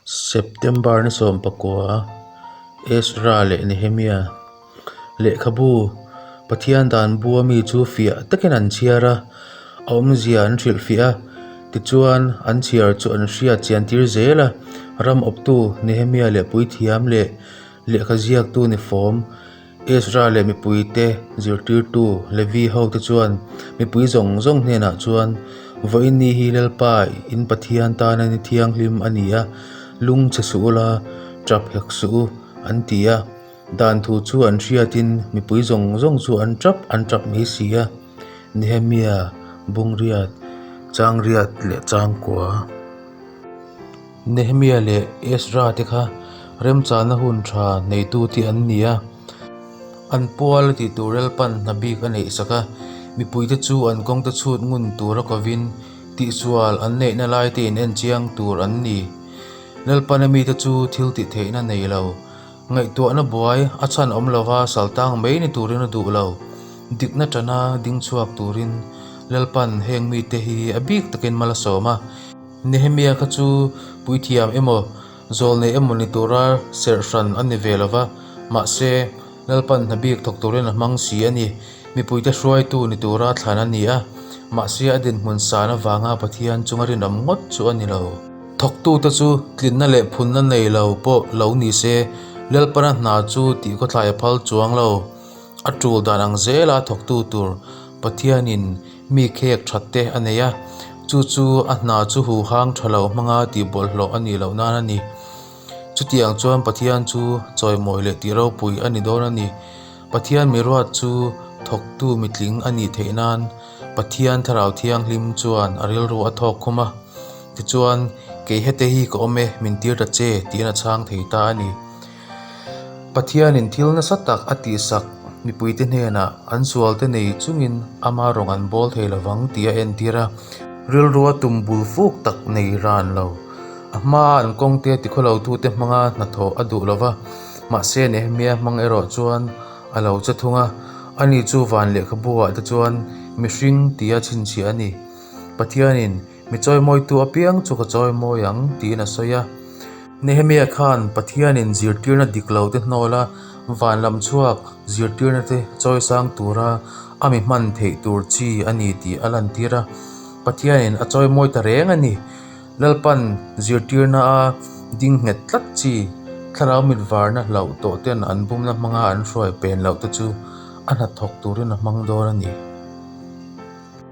September ni sawmpakua Ezra leh Nehemiah lehkhabu Pathian dan bua mi chu fiah takin an chhiar a, a awmzia an hrilh fiah a, tichuan an chhiar chu an hriat chiantir zel a. Ram awptu Nehemiah leh puithiam leh lehkha ziaktu ni fawm. Ezra leh mipuite zirtirtu Levi hote chuan mipui zawng zawng hnenah chuan, Vawiinni hi Lalpa in Pathian tana ni thianghlim a ni a, lungchhe suh ula, ṭha phek suh u, an ti a. Dan thu chu an hriatin mipui zawng zawng chu an ṭap an ṭap mai si a. Nehemiah bungriat, changriat leh changkua. Nehemiah leh Ezra te kha remchahna hun tha neitu te an ni a, an pual a tih tur relpan hna bik a neih sak a, mipuite chu an kawngte chhut ngun tura kovin tihsual an neihna lai te in enchiang tur an ni. Relpana mite chu thil tih theihna nei lo, ngaihtuahna buai a chhan awm lova saltang mai ni turin a duh lo. Dikna tana ding chhuak turin relpan heng mite hi a bik takin mal a sawm a. Nehemia kha chu puithiam emaw, zawl neih emaw ni tura serh hran a ni ve lo va, mahse, lalpan hna bik thawk turin a hmang si a ni. Mipuite hruaitu ni tura thlan a ni a, mahse, a dinhmun san avanga Pathian chunga rinawm ngawt chu a ni lo. Thawktute chu tlinna leh phunna nei lo pawh lo ni se, lalpana hna chu tihkhawthlai a phal chuang lo. A tul dan ang zela thawktu tur Pathianin Mi khek that te a nei a, chu chu a hna chu huhang tha lo hmang a tih bawlhhlawh a nih loh nan a ni. Chutiang chuan Pathian chu chawimawi leh tihropui a ni dawn a ni. Pathian miruat chu thawktu mitling a nih theih nan Pathian Thlarau Thianghlim chuan a rilru a thawk khum a. Tichuan, Kei hete hi ka awm e, min tir ta che, tiin a chhang thei ta a ni. Pathianin thil nasa tak a tihsak mipuite hnenah an sualte nei chungin ama rawn an bawl thei lovang tia a entir a. Rilrua tum bul fuk tak nei ran lo. A hmaa an kawngte tikhaw lotute hmanga hnathawh a duh lova, mahse Nehemia hmang erawh chuan a lo che thung a, ani chu van lehkhabuah te chuan mihring tia chhinchhiah a ni. Pathianin. Mi chawimawitu apiang chu ka chawimawi ang, tiin a sawi a. Nehemiah khan Pathianin zirtirna dik lote hnawla van lam chhuak zirtirnate chawi sang tura a mi hman theih tur chi a ni tih a lantir a. Pathianin a chawimawi ta reng a ni. Lalpan zirtirnaa ding nghet tlat chi thlarau mitvarna hlauh tawh ten an bumna hmanga an hruai pen loh te chu a hnathawk turin a hmang dawn a ni.